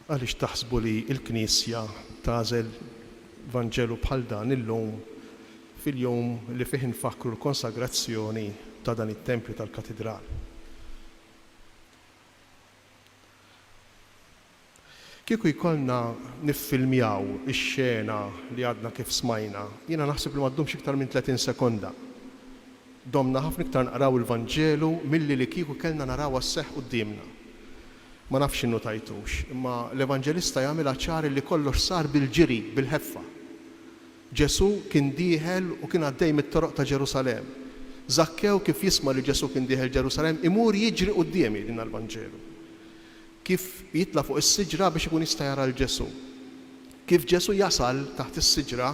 Għaliex taħsbu li l-Knisja tagħżel Vanġelu bħal dan illum fil-jum li fih infakkru l-konsagrazzjoni ta' dan it-tempju tal-Katidral? Kieku jkollna niffilmjaw ix-xena li għadna kif smajna, jiena naħseb li ma ddumx iktar minn tletin sekonda. Domna ħafna iktar naqraw il-Vanġelu milli li kieku kellna narawha sseħħ quddiemna. Ma nafx innutajtux, imma l-Evanġelista jagħmilha ċar li kollox sar bil-ġiri, bil-ħeffa. Ġesù kien dieħel u kien għaddej mit-toroq ta' Ġerusalemm. Żakkew kif jisma' li Ġesù kien dieħel Ġerusalemm, imur jiġri quddiemi, jgħidilna l-Vanġelu. Kif jitla' fuq is-siġra biex ikun jista' jara 'l Ġesù. Kif Ġesù jasal taħt is-siġra,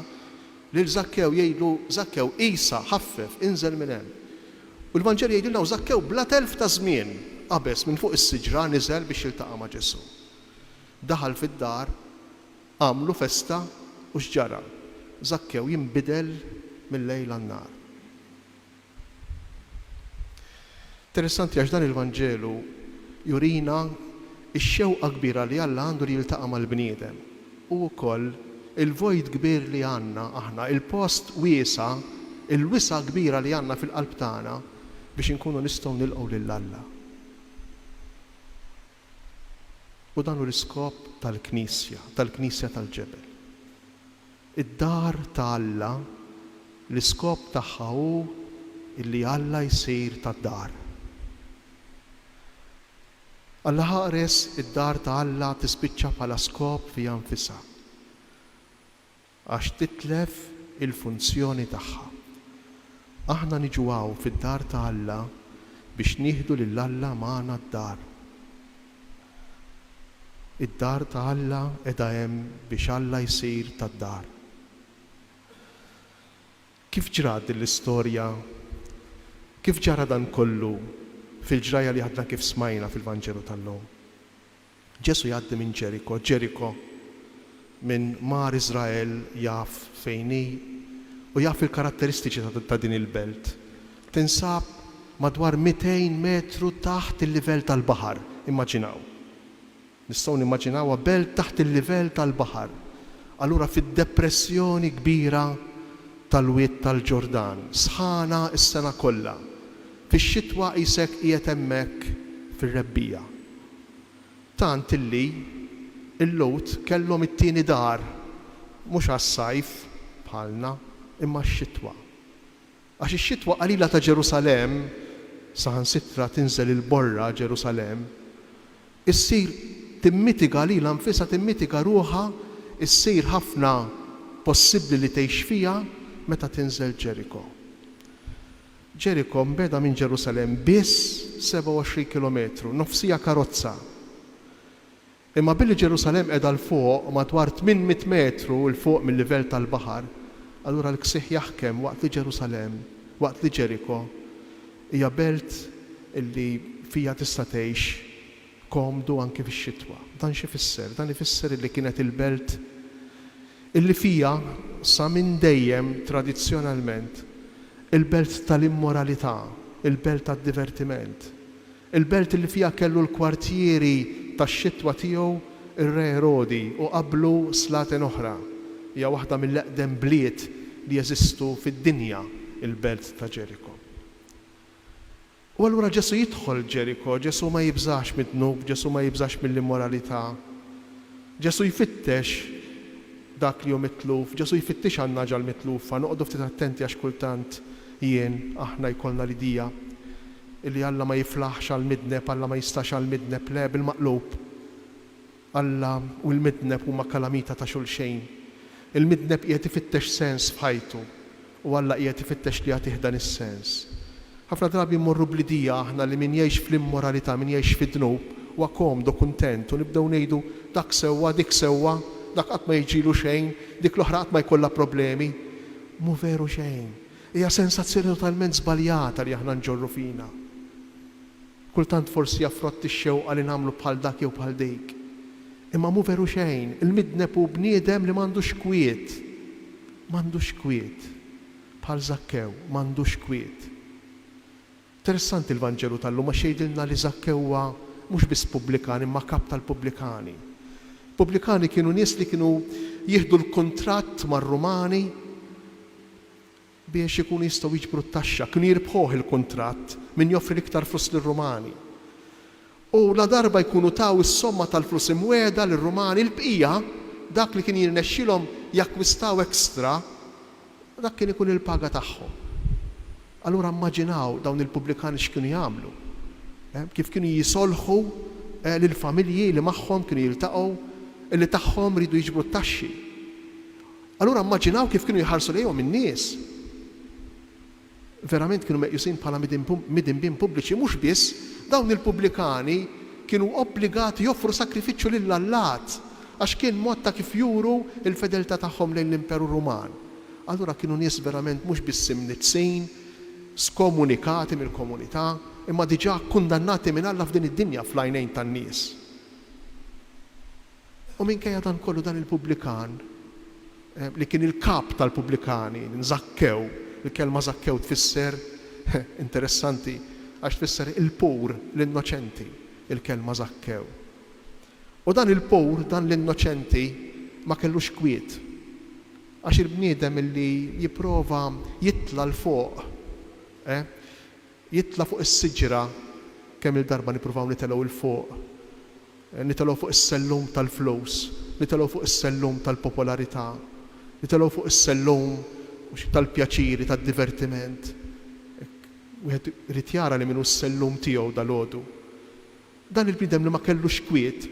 lil Żakkew jgħidlu, Żakkew, qisha, ħaffef, inżel minn hemm. U l-Vanġelu jgħidilna, U Żakkew bla telf ta' żmien, qabeż minn fuq is-siġra niżel biex jiltaqa' ma' Ġesù. Daħal fid-dar, għamlu festa, u x'ġara? Żakkew jinbidel mil-lejl għan-nhar. Interessanti għax dan il-Vanġelu jurina x-xewqa kbira li Alla għandu li jiltaqa' mal-bniedem u wkoll il-void kbir li għandna aħna, il-post wiesa', il-wisa' kbira li għandna fil-qalb tagħna biex inkunu nistgħu nilqgħu lil Alla. U dan hu l-iskop tal-Knisja, tal-Knisja tal-Ġebel. Id-dar ta' Alla, l-iskop tagħha hu illi Alla jsir tad-dar. Allaħaqres id-dar ta' Alla tispiċċa bħala skop fiha nfisha, għax titlef il-funzjoni tagħha. Aħna niġu hawn fid-dar ta' Alla biex nieħdu lil Alla magħna d-dar. Id-dar ta' Alla qiegħda hemm biex Alla jsir tad-dar. Kif ġrat din l-istorja? Kif ġara dan kollu fil-ġrajja li għadna kif smajna fil-Vanġelu tal-lum? Ġesù jgħaddi minn Ġeriko, Ġeriko, Min mar Iżrael jaf fejn hi u jaf il-karatteristiċi ta' din il-belt. Tinsab madwar 200 metru taħt il-livell tal-baħar, immaġinaw! Nistgħu nimmaġinawha belt taħt il-livell tal-baħar, allura fid-depressjoni kbira tal-Wied tal-Ġordan, sħana s-sena kollha. Fix-xitwa qisek qiegħed hemmhekk fir-rebbiegħa. Tant li l-Lhud kellhom it-tieni dar, mhux għas-sajf, bħalna, imma għax-xitwa. Għax ix-xitwa qalila ta' Ġerusalemm, saħansitra tinżel il-borra Ġerusalemm, issir timmitiga lilha nfisha, timmitiga ruħha, issir ħafna possibbli li tgħix fiha meta tinżel Ġeriko. Ġeriko mbegħda minn Ġerusalemm biss 27 kilometru, nofsija karozza. Imma billi Ġerusalemm qiegħda 'l fuq, madwar tmien mitt metru 'l fuq mil-livell tal-baħar, allura l-ksieħ jaħkem waqt li Ġerusalemm, waqt li Ġeriko hija belt li fiha tista' tgħix komdu anki fix-xitwa. Dan x'ifisser? Dan ifisser illi kienet il-belt illi fiha, sa minn dejjem, tradizzjonalment, il-belt tal-immoralità, il-belt tad-divertiment, il-belt illi fiha kellu l-kwartieri tax-xitwa tiegħu r-Re Erodi u qablu slaten oħra. Hija waħda mill-eqdem bliet li jeżistu fid-dinja, il-belt ta' Ġeriko. U allura Ġesù jidħol Ġeriko, Ġesù ma jibżax mid-dnub, Ġesù ma jibżax mill-immoralità. Ġesù jfittex dak li hu mitluf, Ġesù jfittix għan-nagħġa l-mitlufa. Noqogħdu ftit attenti għax kultant jien, aħna jkollna l-idea illi Alla ma jiflaħx għall-midneb, Alla ma jistax għall-midneb. Le, bil-maqlub. Alla u l-midneb huma kalamita ta' xulxejn. Il-midneb qiegħed ifittex sens f'ħajtu, u Alla qiegħed ifittex li jagħtih dan is-sens. Ħafna drabi mmorru bl-idea aħna li min jgħix fl-immoralità, min jgħix fid-dnub, huwa komdu u kuntent, u nibdew ngħidu, Dak sewwa, dik sewwa, dak qatt ma jiġilu xejn, dik l-oħra qatt ma jkollha problemi. Mhu veru xejn. Hija sensazzjoni totalment żbaljata li aħna nġorru fina. Kultant forsi jaffrotti x-xewqa li nagħmlu bħal dak jew bħal dik. Imma mhu veru xejn, il-midneb hu bniedem li m'għandux kwiet. M'għandux kwiet. Bħal Żakkew, m'għandux kwiet. Interessanti l-Vanġelu tal-lum għax jgħidilna li Żakkew huwa mhux biss pubblikan imma kap tal-pubblikani. Pubblikani kienu nies li kienu jieħdu l-kuntratt mar-Rumani biex ikunu jistgħu jiġbru t-taxxa, kienu jirbħuh il-kuntratt min joffri l-iktar flus lir-Rumani. U ladarba jkunu taw is-somma tal-flus imwiegħda lir-Rumani, il-bqija, dak li kien jirnexxilhom jakkwistaw extra, dak kien ikun il-paga tagħhom. Allura mmaġinaw dawn il-pubblikani x'kienu jagħmlu, kif kienu jisolħu lill-familji li magħhom kienu jiltaqgħu, li tagħhom riedu jiġbru t-taxxi. Allura immaġinaw kif kienu jħarsu lejhom in-nies! Verament kienu meqjusin bħala midinbin pubbliċi. Mhux biss, dawn il-pubblikani kienu obbligati joffru sagrifiċċju lill-allat, għax kien mod ta' kif juru l-fedeltà tagħhom lejn l-Imperu Ruman. Allura kienu nies verament mhux biss imniddsin, skomunikati mill-komunità, imma diġà kkundannati minn Alla f'din id-dinja fl-għajnejn tan-nies. U minkejja dan kollu dan il-pubblikan, li kien il-kap tal-pubblikani, Żakkew, il-kelma Żakkew tfisser, interessanti, għax tfisser il-pur, l-innoċenti, il-kelma Żakkew. U dan il-pur, dan l-innoċenti ma kellux kwiet. Għax il-bniedem li jipprova jitla' 'l fuq, eh, Jitla' fuq is-siġra, kemm-il darba nippruvaw nitelgħu 'l fuq, nitelgħu fuq is-sellum tal-flus, nitelgħu fuq is-sellum tal-popolarità, nitelgħu fuq is-sellum tal-pjaċiri, tad-divertiment. Wieħed irid jara li min hu s-sellum tiegħu dalgħodu. Dan il-bniedem li ma kellux kwiet,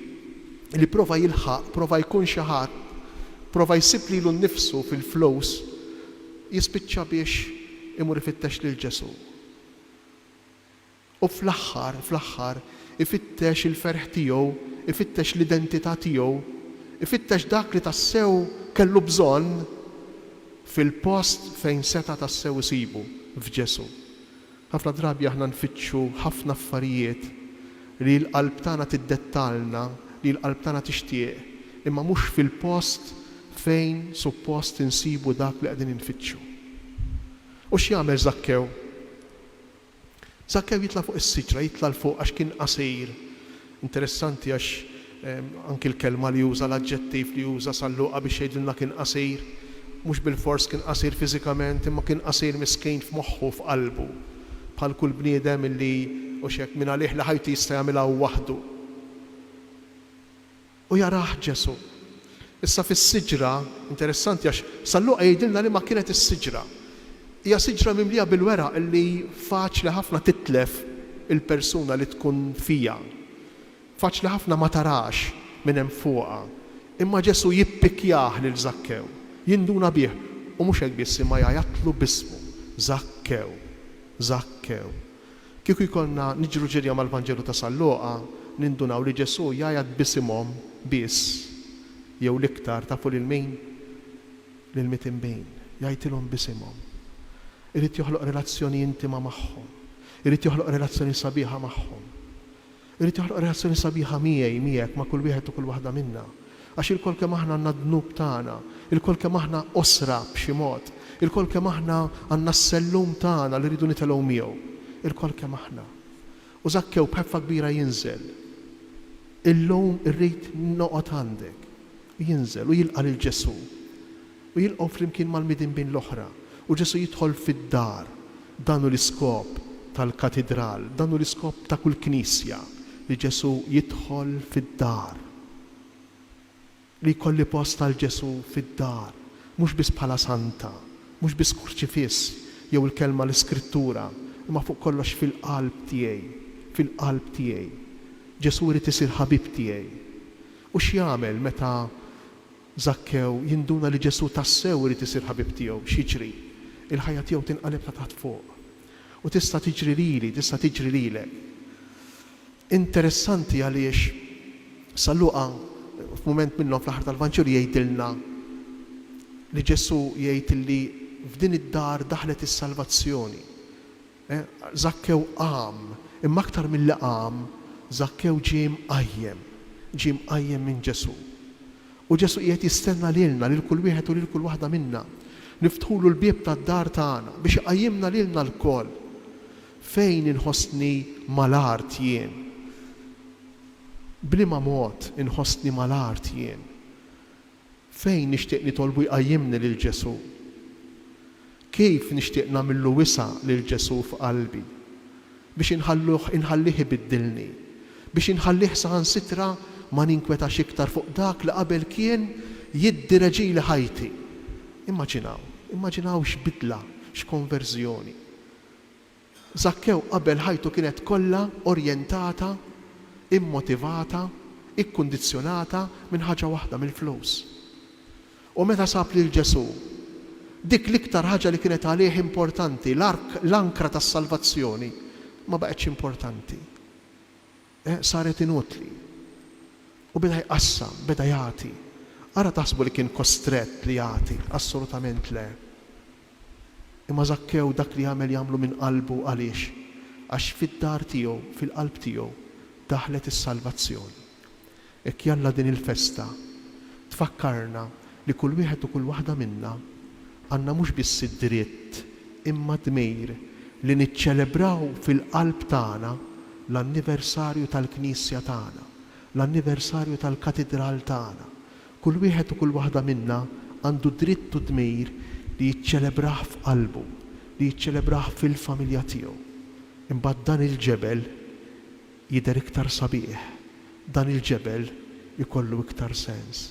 li prova jilħaq, prova jkun xi ħadd, prova jsib lilu nnifsu fil-flus, jispiċċa biex imur ifittex lil Ġesù. U fl-aħħar, fl-aħħar, ifittex il-ferħ tiegħu, ifittex l-identità tiegħu, ifittex dak li tassew kellu bżonn fil-post fejn seta' tassew isibu, f'Ġesù. Ħafna drabi aħna nfittxu ħafna affarijiet li l-qalb tagħna tiddettalna li l-qalb tagħna tixtieq, imma mhux fil-post fejn suppost insibu dak li qegħdin infittxu. U x'jagħmel Żakkew? Żakkew jitla' fuq is-siġra, jitla' 'l fuq għax kien qasir. Interessanti għax anki l-kelma li uża, l-aġġettiv li uża San Luqa biex jgħidilna kien qasir, mhux bilfors kien qasir fiżikament imma kien qasir miskin f'moħħu u f'qalbu. Bħal kull bniedem illi, hux hekk, mingħalih li ħajtu jista' jagħmilha hu waħdu. U jarah Ġesù. Issa fis-siġra, interessanti għax San Luqa jgħidilna liema kienet is-siġra. Hija siġra mimlija bil-weraq li faċli ħafna titlef il-persuna li tkun fiha. Faċli ħafna ma tarax min hemm fuqha. Imma Ġesù jippikjah lil Żakkew, jinduna bih, u mhux hekk biss imma jgħajatlu b'ismu, Żakkew! Żakkew! Kieku jkollna niġru ġirja mal-Vanġelu ta' San Luqa, nindunaw li Ġesù jgħajjat b'isimhom biss, jew l-iktar, tafu lil min? Lill-mitinbin. Jgħajtilhom b'isimhom. Irid joħloq relazzjoni intima magħhom. Irid joħloq relazzjoni sabiħa magħhom. Irid joħloq relazzjoni sabiħa miegħi, miegħek, ma' kull wieħed u kull waħda minna. Għax ilkoll kemm aħna għandna d-dnub tagħna, ilkoll kemm aħna qosra b'xi mod, ilkoll kemm aħna għandna s-sellum tagħna li rridu nitelgħu miegħu. Ilkoll kemm aħna. U Żakkew b'ħeffa kbira jinżel. Illum irrid noqgħod għandek. U jinżel u jilqa' lil Ġesù. u jilqgħu flimkien mal-midinbin l-oħra, u Ġesù jidħol fid-dar. Dan hu l-iskop tal-katidral, dan hu l-iskop ta' kull knisja, li Ġesù jidħol fid-dar, li jkolli post għal Ġesù fid-dar, mhux biss bħala santa, mhux biss kurċifiss jew il-kelma l-iskrittura, imma fuq kollox fil-qalb tiegħi, fil-qalb tiegħi. Ġesù jrid isir ħabib tiegħi. U x'jagħmel meta Żakkew jinduna li Ġesù tassew irid isir ħabib tiegħu. X'jiġri? Il-ħajja tiegħu tinqaleb ta' taħt fuq. U tista' tiġri lili, tista' tiġri lilek. Interessanti għaliex San Luqa, f'mument minnhom fl-aħħar tal-Vanġelu jgħidilna li Ġesù jgħid li f'din id-dar daħlet is-salvazzjoni. Żakkew qam, imma aktar milli qam, Żakkew ġie mqajjem, ġie mqajjem minn Ġesù. U Ġesù qiegħed jistenna lilna, lil kull wieħed u lil kull waħda minna, niftħulu l-bieb tad-dar tagħna biex iqajjimna lilna lkoll. Fejn inħossni mal-art jien? B'liema mod inħossni mal-art jien? Fejn nixtieq nitolbu jqajjimni lil Ġesù? Kif nixtieq nagħmillu wisa' lil Ġesù f'qalbi, biex inħalluh inħallih ibiddilni, biex inħallih saħansitra ma ninkwetax iktar fuq dak li qabel kien jiddireġili ħajti? Immaġinaw, immaġinaw x'bidla, x'konverżjoni! Żakkew qabel ħajtu kienet kollha orjentata, immotivata, ikkundizzjonata minn ħaġa waħda, mill-flus. U meta sab lil Ġesù, dik l-iktar ħaġa li kienet għalih importanti, l-ark, l-ankra tas-salvazzjoni, ma baqgħetx importanti. Eh, saret inutli. U beda jqassam, beda jagħti. Ara taħsbu li kien kostrett li jagħti? Assolutament le. Imma Żakkew dak li għamel jagħmlu minn qalbu għaliex? Għax fid-dar tiegħu, fil-qalb tiegħu, daħlet is-salvazzjoni. Hekk jalla din il-festa tfakkarna li kull wieħed u kull waħda minna għandna mhux biss id-dritt imma d-dmir li niċċelebraw fil-qalb tagħna l-anniversarju tal-knisja tagħna, l-anniversarju tal-katidral tagħna, Kull wieħed u kull waħda minna għandu d-dritt u d-dmir li jiċċelebrah f'qalbu, li jiċċelebrah fil-familja tiegħu. Imbagħad dan il-ġebel jidher iktar sabiħ, dan il-ġebel ikollu iktar sens.